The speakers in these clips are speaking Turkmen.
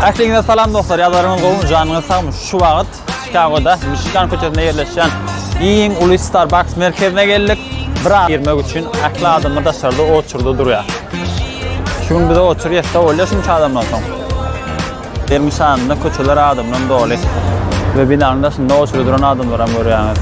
Ähliňize salam dostlar, ýazlaryňyz gowy, janyňyz sagmy? Şu wagt Çikagoda, Michigan köçesinde ýerleşýän iň uly Starbucks merkezine geldik. Bir aýy girmek üçin ähli adamlar daşarda oturdy durýar. Şu gün bize otur ýetse bolýar şunça adamdan soň. Dermşanynda köçeler adamdan doly we binanyň daşynda oçury duran adamlaram görýäňiz.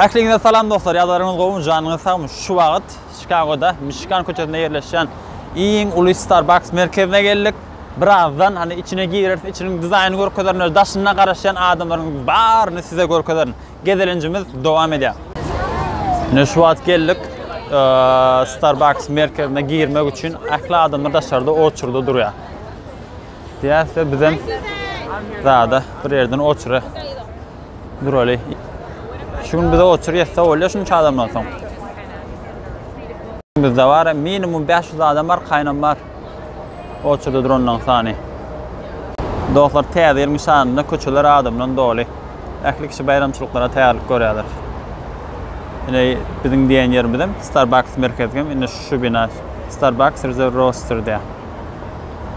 Ähliňize salam dostlar, ýagdaýlaryňyz gowumy, janyňyz sagmy? Şu wagt Çikagoda Mişigan köçesinde ýerleşýän iň uly Starbucks merkezine geldik. Birazdan hany içine gireris, içiniň dizaýnyny görkezerin, daşynda garaşýan adamlaryň baryny size görkezerin. Gezelenjimiz dowam edýär. Ine şu wagt geldik. Starbucks merkezine girmek üçin ähli adamlar daşarda oçurda durýar. Diýäse bizem zada bir ýerden oçura duraly. Şu gün bize oçur ýetse bolýar şunça adamdan soň. Bizde bar minimum 500 adam bar, kaynam bar. Oçurdy dronlaň sany. Dostlar täze ýylyň şanyna köçeler adam bilen doly. Ähli kişi baýramçylyklara taýýarlyk görýärler. Ine biziň diýen ýerimiz hem Starbucks merkezi hem indi şu bina Starbucks Reserve Roaster diýär.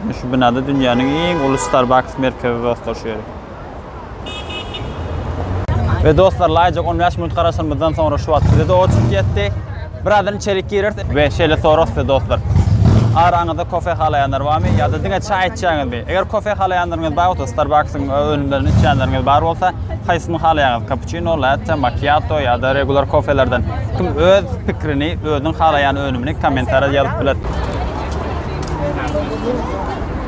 Indi şu binada dünýäniň iň uly Starbucks merkezi dostlar şu ýeri. Ve dostlar laýyjak 15 minut garaşanymyzdan soňra şu wagt bize de oçuk ýetdi. Birazdan içerik gireris ve şeýle sorarys size dostlar. Araňyzda kofe halaýanlar barmy ýa-da diňe çaý içýäňizmi? Eger kofe halaýanlaryňyz bar bolsa, Starbucks-yň önümlerini içýänleriňiz bar bolsa, haýsyny halaýaňyz? Kapuçino, latte, makiato ýa-da regular kofelerden? Kim öz pikirini, özüniň halaýan önümini kommentariýada ýazyp biler.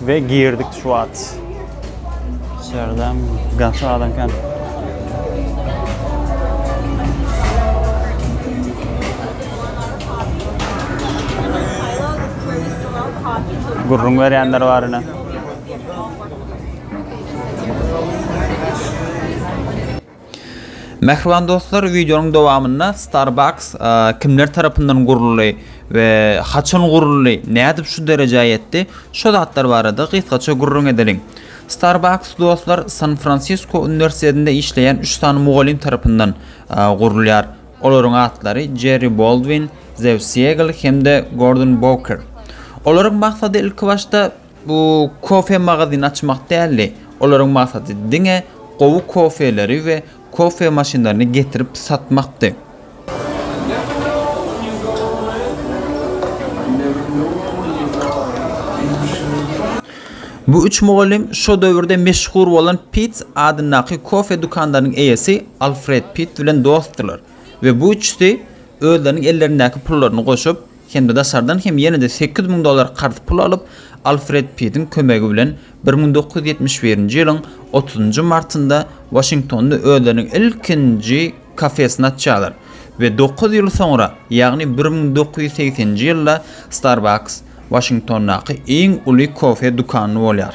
We girdik şu wagt. Şerden gaty adam kan. Gurrun verenler var yine. Mähriban dostlar, wideonyň dowamynda Starbucks kimler tarapyndan guruldy we haçan guruldy, nädip şu derejä ýetdi, şo zatlar barada gysgaça gürrüň edeliň. Starbucks dostlar San-Fransisko uniwersitetinde işleýän üç sany mugallym tarapyndan gurulýar. Olaryň atlary Jerri Boldwin, Zew Siegel hem-de Gordon Bowker. Olaryň maksady ilkibaşda Bu kofe magazyny açmak däldi, olaryň maksady diňe gowy kofeleri we kofe maşynlaryny getirip satmakdy. Bu üç mugallym şo döwürde meşhur bolan Pitts adyndaky kofe dükanlarynyň eýesi Alfred Pitt bilen dostdular we bu üçüsi özleriniň ellerindäki pullaryny goşup, hem-de daşardan hem ýene-de sekiz müň dollar karz pul alyp, Alfred Pitiň kömegi bilen bir müň dokuz ýüz ýetmiş birinji ýylyň otuzynjy martynda Waşingtonda özleriniň ilkinji kafesini açýarlar we dokuz ýyl soňra, ýagny bir müň dokuz ýüz segseninji ýylda Starbucks Waşingtondaky iň uly kofe dükany bolýar.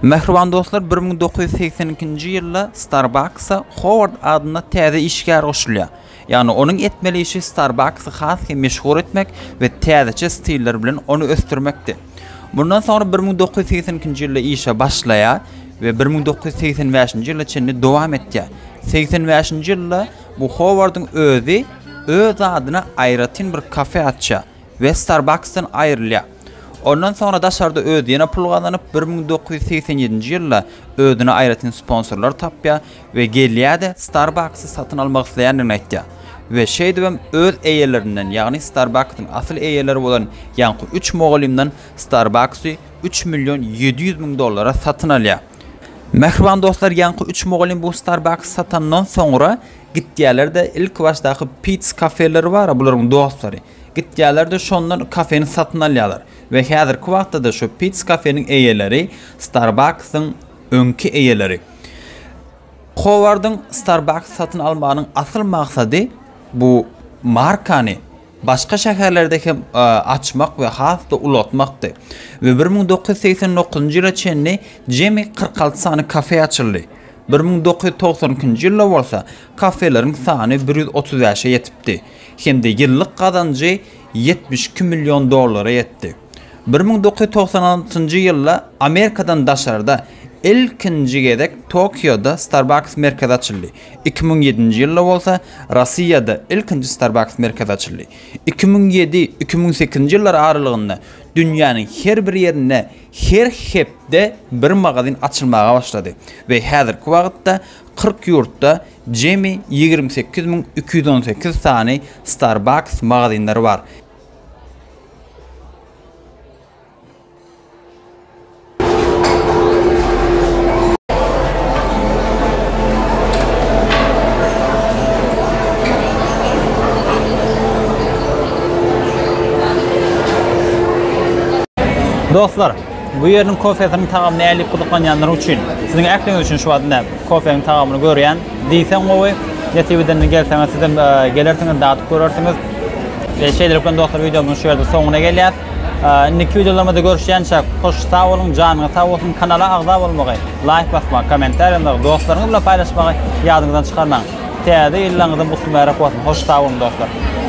Mähriban dostlar bir müň dokuz ýüz segsen ikinji ýylda Starbucks-a Howard adynda täze işgär goşulýar. Ýagny onuň etmeli işi Starbucks-y has hem meşhur etmek we täzeçe stiller bilen ony ösdürmekdi. Mundan soňra bir müň dokuz ýüz segsen ikinji ýylda işe başlaýar we bir müň dokuz ýüz segsen bäşinji ýyla çenli dowam etýär. Segsen bäşinji ýylda bu Howardyň özi öz adyna aýratyn bir kafe açýar. we Starbucks-dan aýrylýar. Ondan soňra daşarda özi ýene pul gazanyp, bir müň dokuz ýüz segsen ýedinji ýylda özüne aýratyn sponsorlar tapýar we gelýär-de Starbucks-y satyn almak isleýändigini aýtýar we şeýdibem öz eýelerinden, ýagny Starbucks-yň asyl eýeleri bolan ýaňky üç mugallymdan Starbucks-y üç million ýedi ýüz müň dollara satyn alýar. Mähriban dostlar, ýaňky üç mugallym bu Starbucks-y satandan soňra, Gitýärler-de, ilkibaşdaky Pits kafeleri bar-a, bularyň dostlary. Gitýärler-de, şondan kafeni satyn alýarlar. We häzirki wagtda-da şu Pits kafeniň eýeleri Starbucks-yň öňki eýeleri. Howardyň Starbucks satyn almagynyň asyl maksady bu markany başga şäherlerde hem açmak we has-da ulaltmakdy we bir müň dokuz ýüz segsen dokuzynjy ýyla çenli jemi kyrk alty sany kafe açyldy, bir müň dokuz ýüz togsan ikinji ýylda bolsa kafeleriň sany bir ýüz otuz bäşe ýetipdi hem-de ýyllyk gazanjy ýetmiş iki million dollara ýetdi. Bir müň dokuz ýüz togsan altynjy ýylda Amerikadan daşarda ilkinji gezek Tokioda Starbucks merkezi açyldy. Iki müň ýedinji ýylda bolsa Rossiýada ilkinji Starbucks merkezi açyldy. Iki müň ýedi, iki müň sekizinji ýyllar aralygynda dünýäniň her bir ýerinde her hepde bir magazin açylmaga başlady we häzirki wagtda kyrk ýurtda jemi ýigrimi sekiz müň iki ýüz on sekiz sany Starbucks magazinleri bar. Dostlar, bu ýeriniň kofesiniň tagamyna äli gyzyklanýanlar üçin, siziň ähliňiz üçin şu wagt ine kofeniň tagamyny görýän. Diýseň gowy, nesip edende gelseňiz sizem gelersiňiz, dadyp görersiňiz. Şeýlelikden dostlar wideomyzyň şu ýerde soňuna gelýär. Indiki wideolarymyzda görüşýänçäk hoş sag boluň janyňyz sag bolsun kanala agza bolmagy laýk basmagy kommentariýa ýazmagy dostlaryňyz bilen paýlaşmagy ýadyňyzdan çykarmaň täze ýyllaryňyzam gutly mübärek bolsun hoş sag boluň dostlar.